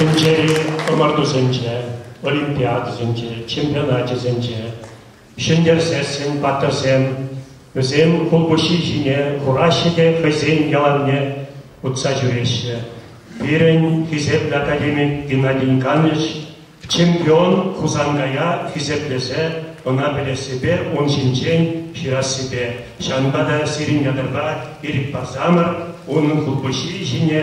Тӗнчери ӑмӑртусенче, олимпиадӑсенче, чемпионачӗсенче ҫӗнтерсессӗн паттӑрсем вӗсем хулпуҫҫи ҫине хураҫҫӗ те хӑйсен яланне утса ҫӳреҫҫӗ. Пирӗн хисеплӗ академик Геннадий Иванович чемпион Хусанкая хисеплесе ӑна пӗлессипе ун ҫинчен ҫырассипе, ҫавӑнпа та сирӗн ятӑрпа ирӗк парсамӑр унӑн хулпуҫҫи ҫине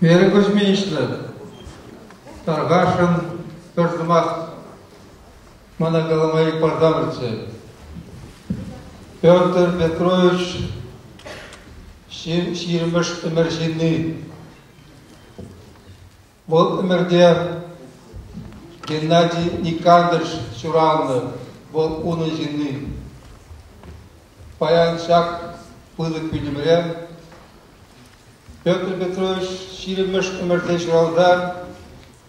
Мере Кузьминична, Таргашӑн пӗр сӑмах мана калама икпар тавӑрчӗ. Петр Петрович ҫирӗмӗш ӗмӗр ҫынни. Вӑл ӗмӗрте Геннадий Никандрович ҫураннӑ. Вӑл унӑн ҫынни. Паян ҫак пылӑк пӳлӗмре Петр Петрович ҫирӗмӗш ӗмӗрте ҫуралса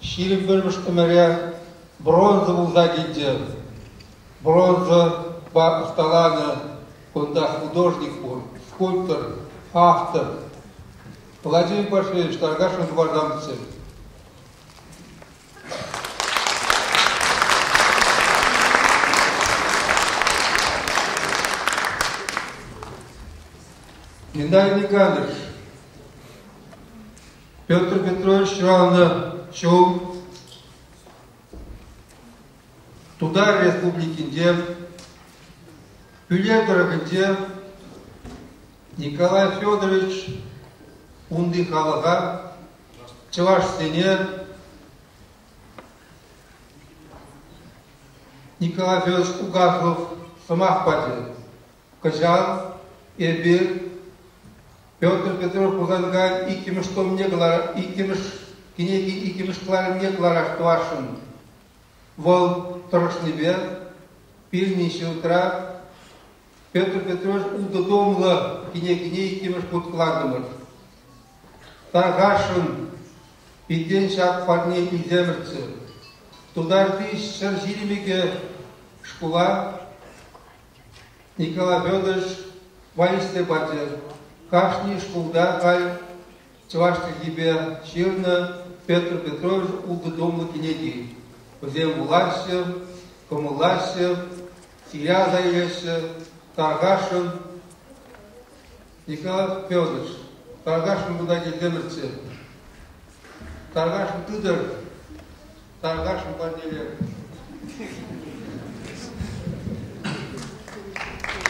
Ҫирӗп вырӑс-тӗмӗре бронза пулса килчӗ. Бронзӑпа ӑсталанӑ кунта художник пур, скульптор, автор. Владимир Пашевич, Таргашев Варрамцев. Геннадий Николаевич, Петр Петрович ҫуралнӑ ҫул Тутар Республикинче Пӳле тӑрӑхӗнче Николай Федорович унти халӑха чӑвашсене Николай Федорович Угахов сӑмах пачӗ. кӑҫал эпир Петр Петрович Хусанкай иккӗмӗш томне кӑларах, иккӗмӗш кӗнеки иккӗмӗш кӑларӑмне кӑларах тӑвасшӑн. Вӑл тӑрӑшнипе пирӗн институтра Петр Петрович ултӑ томлӑ кӗнекене иккӗмӗш хут кӑлартӑмӑр. Тархасшӑн, питен ҫак парне илтемӗрччӗ. Тутарти ҫӗр ҫирӗмӗкӗ шкула Николай Федорович воинстве пачӗ. Кашни шкулта кай чӑваш чӗлхипе ҫырнӑ Петр Петрович ултӑ томлӑ кӗнеки. Вӗсем вулаҫҫӗ, кӑмӑллаҫҫӗ, ҫыря аса илеҫҫӗ. Таркашӑн Николай Федорович, Таркашӑн кунта килтӗмӗрччӗ. Таркашӑн тытӑр, Тархасшӑн, Пантелей.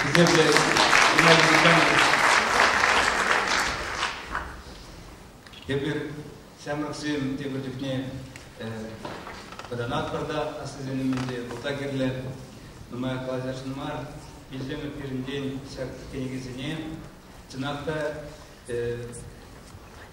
Хисеплӗ Геннадий Эпир ҫамрӑксем тепӗр чухне вӑтанатпӑр та аслисен умӗнче пулса кирлӗ. Нумай калаҫасшӑн мар. Вилсемӗр пирӗнтен ҫак кӗнекесене чӑнах та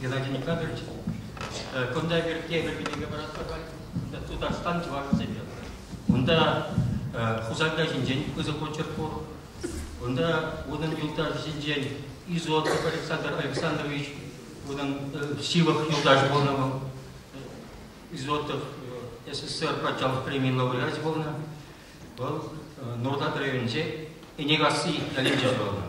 Геннадий Николаевич, кунта пирки эпир кӗнеке паратпӑр халь. Тутарстан чӑвашӗсемпе. Унта Хусанка ҫинчен пысӑк очерк пур. Унта унӑн юлташӗсенчен Изот Александр Александрович, унӑн Сивах юлташӗ пулнӑ вӑл. Изотов СССР патшалӑх премийӗн лауреачӗ пулнӑ. Вӑл Нуртат районӗнче Энекасси ялӗнче ҫуралнӑ.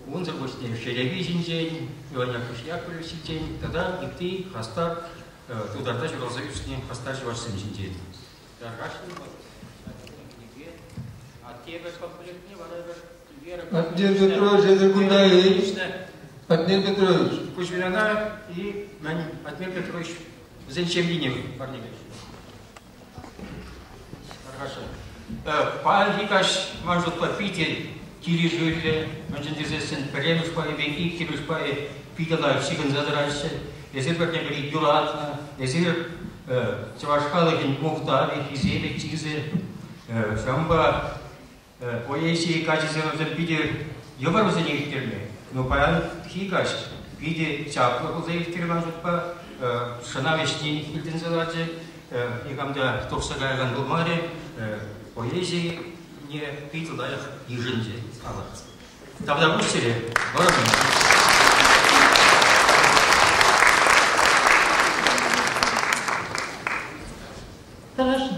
Унсӑр пуҫне Шерепи ҫинчен, Иван Яковлевич ҫинчен тата ытти хастар тутарта ҫуралса ӳснӗ хастар чӑвашсем ҫинчен. Тархасшӑн вӑл кӗнеке Аттепӗр комплектне вара пӗр Аттен Петрович, это куда Атнер Петрович. Куҫвиляна и Атнер Петрович вӗсен ҫемйине парнелеҫҫӗ. Хорошо. Паянхи каҫ, ман шутпа, питӗ килӗшӳллӗ, мӗншӗн тесессӗн пӗрремӗш пайӗ пек иккӗмӗш пайӗ питӗ лайӑх ҫыхӑнса тӑраҫҫӗ. Эсир пӗрне пӗри юратнӑ, эсир чӑваш халӑхӗн мухтавӗ, хисепӗ, чысӗ. Ҫавӑнпа Поэзие каҫӑсем питӗ йывӑр вӗсене ирттерме, но паянхи каҫ питӗ чаплӑ пулса ирттермен шутпа шӑнав ӗҫне илтӗнсе ларчӗ, никам та тухса каякан пулмарӗ, поэзине питӗ лайӑх йышӑнчӗ халӑх. Тавра пуҫ сире, вӑрӑмӑн. Тӑрӑшın.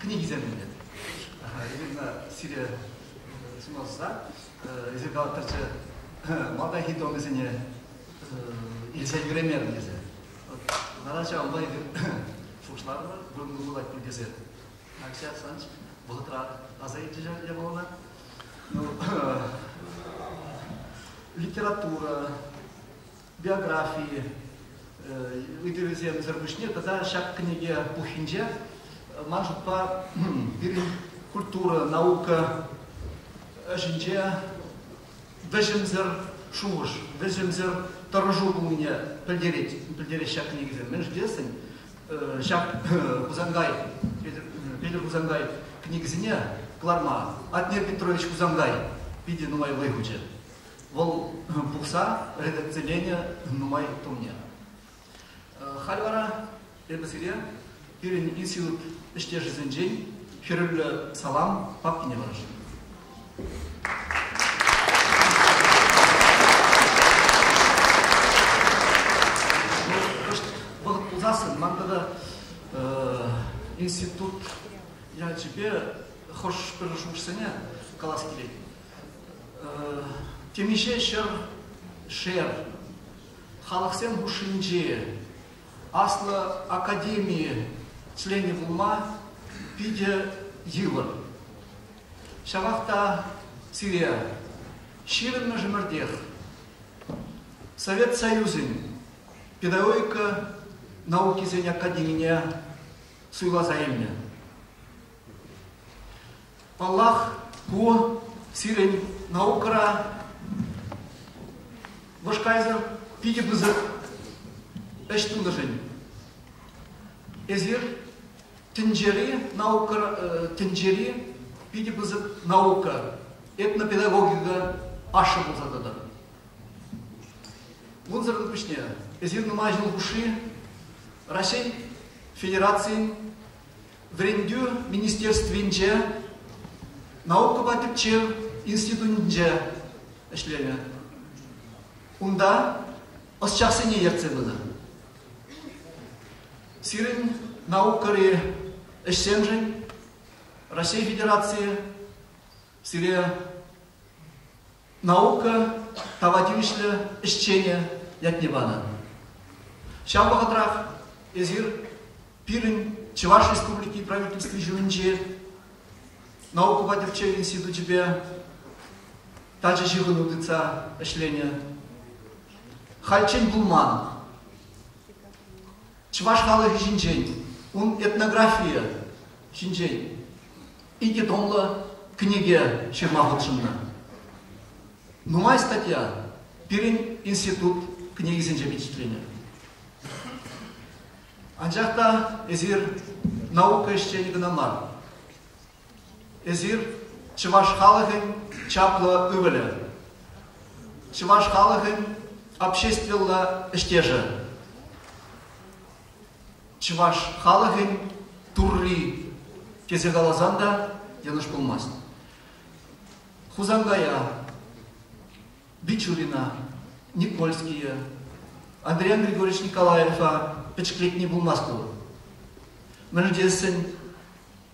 книги сертӗмӗр. Ирина сире сунасса, эсир калаттӑрччӗ, малтанхи томӗсене илсе ҫӳремерӗм тесе. Вара ҫавӑнпа эпир шушларӑмӑр вырӑнлӑ пулать пиркесе. Акҫа Санч вӑхӑтра аса илчӗ ҫав япалана. Ну, литература, биографи ыйтӑвӗсемсӗр пуҫне тата ҫак кӗнеке пуххинче ман шутпа пирӗн культура, наука ӗҫӗнче вӗҫӗмсӗр шухӑш, вӗҫӗмсӗр тӑрӑшу пулнине пӗлтерет, пӗлтереҫ ҫак кӗнекесем. Мӗн шутлесен, ҫак Хусангай, Петӗр Хусангай кӗнекесене кӑларма Атнер Петрович Хусангай питӗ нумай вӑй хучӗ. вӑл пухса редакциленӗ нумай томне. Халь вара эпӗ сире пирӗн институт ӗҫтешӗсенчен хӗрӳллӗ салам папкине вӑрҫӑм. вӑхӑт пулсассӑн ман тата институт ячӗпе хӑш пӗрлешӳҫӗсене калас килет. Темиҫе ҫӗр шер халӑхсем хушшинчи аслӑ академи членӗ пулма питӗ йывӑр. Ҫавах та сире ҫирӗммӗш ӗмӗртех Совет Союзӗн педагогика наукисен академине суйласа илнӗ. Паллах, ку сирӗн наукӑра вӑш кайсӑр питӗ пысӑк ӗҫ тунӑшӑн. Эсир тӗнчери наука, тӗнчери питӗ пысӑк наука, этнопедагогика ашшӗ пулса тӑтӑр. Унсӑрӑн пуҫне эсир нумай ҫул хушши Раҫҫей Федерацийӗн Вӗрентӳ министерствинче наукӑпа тӗпчев институтӗнче ӗҫленӗ. Унта ӑсчахсене ертсе пынӑ. Сирӗн наукӑри ӗҫсемшӗн Раҫҫей Федерацийӗ сире наука тава тивӗҫлӗ ӗҫченӗ ятне панӑ. Ҫав вӑхӑтрах эсир пирӗн Чӑваш Республики Правительстви ҫумӗнчи наукӑпа тӗпчев институчӗпе тачӑ ҫыхӑну тытса ӗҫленӗ. Хальччен пулман. Чӑваш халӑхӗ ҫинчен, ун этнографийӗ ҫинчен икӗ томлӑ кӗнеке ҫырма хутшӑннӑ. Нумай статья пирӗн институт кӗнекисенче впечатленӗ. Анчах та эсир наука ӗҫченӗ кӑна мар. Эсир чӑваш халӑхӗн чаплӑ ывӑлӗ, чӑваш халӑхӗн обществӑлла ӗҫтешӗ. чӑваш халӑхӗн Турри тесе каласан та йӑнӑш пулмасть. Хусанкая, Бичурина, Никольские, Андриан Григорьевич Николаева пӗчӗклетни пулмасть ку. Мӗншӗн тесен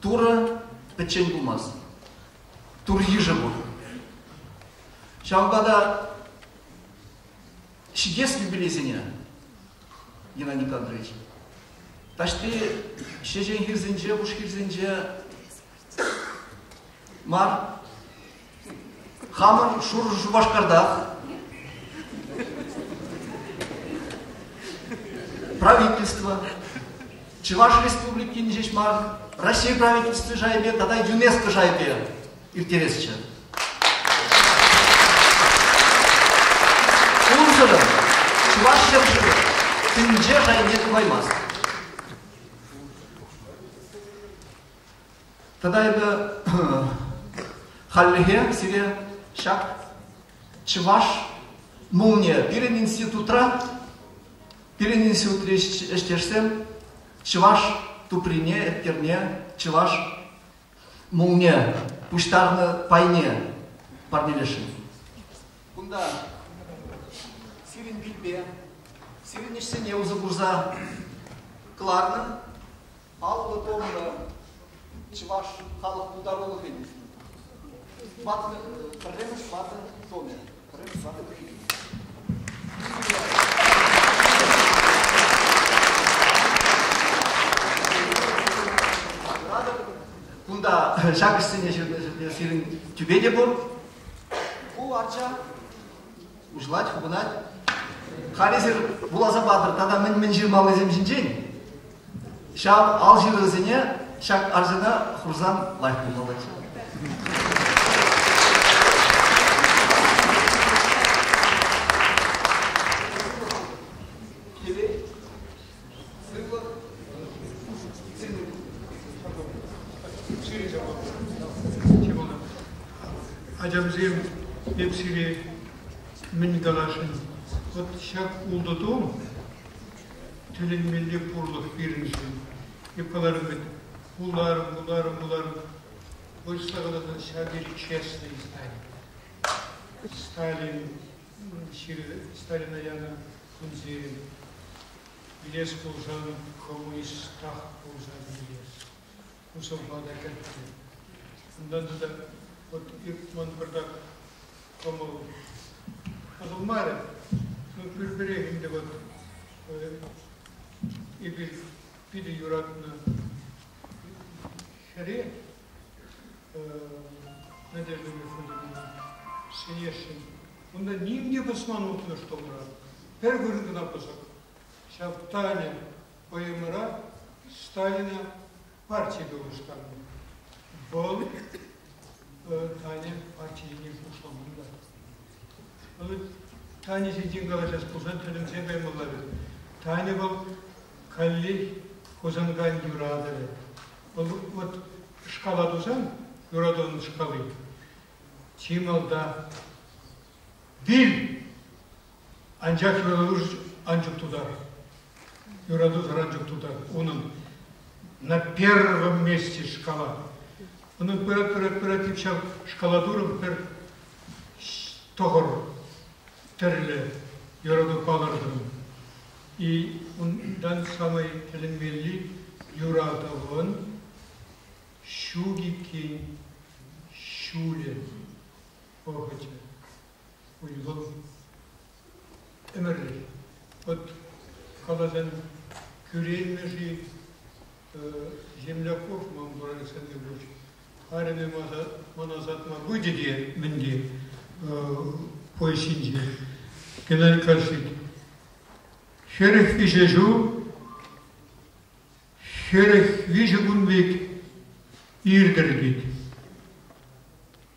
Турӑ пӗччен пулмасть. Тур йышӗ пур. Ҫавӑнпа та ҫитес юбилейсене, Геннадий Николаевич, таҫти ҫеҫен хирсенче, пуш хирсенче мар, хамӑр Шурӑ Шупашкартах правительство, Чӑваш Республикин ҫеҫ мар, Раҫҫей правительстви шайӗпе тата ЮНЕСКО шайӗпе ирттересчӗ. Унсӑрӑн Чӑваш ҫӗршывӗ тӗнче шайне тупаймасть. Тата эпӗ хальлӗхе сире ҫак чӑваш молния пирӗн институтра пирӗн институтри ӗҫтешсем чӑваш туприне, эткерне, чӑваш Мулне пуҫтарнӑ пайне парнелесшӗн. Кунта сирӗн пилпе, сирӗн ӗҫсене усӑ курса кӑларнӑ паллӑ томлӑ чӑваш халӑх пултарулӑхӗн пӗрремӗш ватӑ томӗ. Кунта ҫак ӗҫсене сирӗн тӳпе те пур. Ку арча уҫӑлать, хупӑнать. Халӗ эсир вуласа патӑр тата мӗн-мӗн ҫырмаллисем ҫинчен. Ҫав ал ҫырӑвӗсене ҫак арчана хурсан лайӑх пулмаллаччӗ. Ачамсем, эп сире мӗн каласшӑн, вот ҫак ултӑ том Тӗлӗнмелле пурлӑх пирӗншӗн. Николай Робертович, вуларӑм, вуларӑм, вуларӑм. Хочется каласан, ҫав тери честный Сталин. Сталин ҫырӑвӗ, Сталина янӑ кунсем илес пулсан, коммунист тах пулсан илес. Хушӑмпа та кӗтнӗ. Унтан тата вот ман пӗртак кӑмӑл пӑсӑлмарӗ. Ну, пӳрпӗрех ӗнтӗ вот эпир питӗ юратнӑ хӗре Надежда Михайловна ҫӗнесшӗн. Унта ним те пӑсман утнӑ шкулра. Пӗр вырӑн кӑна пӑсӑк. Ҫав Таня ПМра Сталина парти тулӑштарнӑ. Вӑл Таня партине хушламанта. Вӑл Таня ҫинчен калаҫас пулсан тӗлӗнсе каймалла вӗт. Таня вӑл каллех Хусанкайӑн юратӑвӗ. Вӑл вот шкала тусан, юратӑвӑн шкалы, чи малта Вил! Анчах юрату ан чуп тутар. Юрату саран чуп тутар. Унӑн на первом месте шкала. Унӑн пырать, пырать, пырать, тип ҫав шкала турӑм пӗр тӑхӑр тӗрлӗ юрату палӑртӑм. И ундан самый тӗлӗнмелли юратӑвӑн ҫук иккен ҫулӗ. пӑхӑчӗ. Уйрӑм ӗмӗрлӗх. Вӑт каласан кӳреймӗ-ши? Земля хур ман Уралсенне пуҫ. Арӑмӗ мана сатма пычӗ те мӗнде поезинче Геннадий Карсик. Хӗрӗх виҫӗ ҫул, хӗрӗх виҫӗ кун пек иртӗр тет.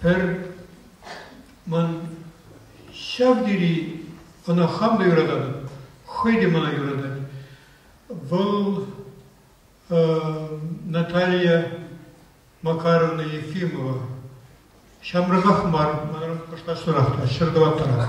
Пӗр ман ҫав тери ӑна хам та юрататӑп, хӑй те мана юратать. Вӑл Наталья Макаровна Ефимова. Ҫамрӑках мар, манран кӑштахсанах та, ҫӗр тӑваттӑрах.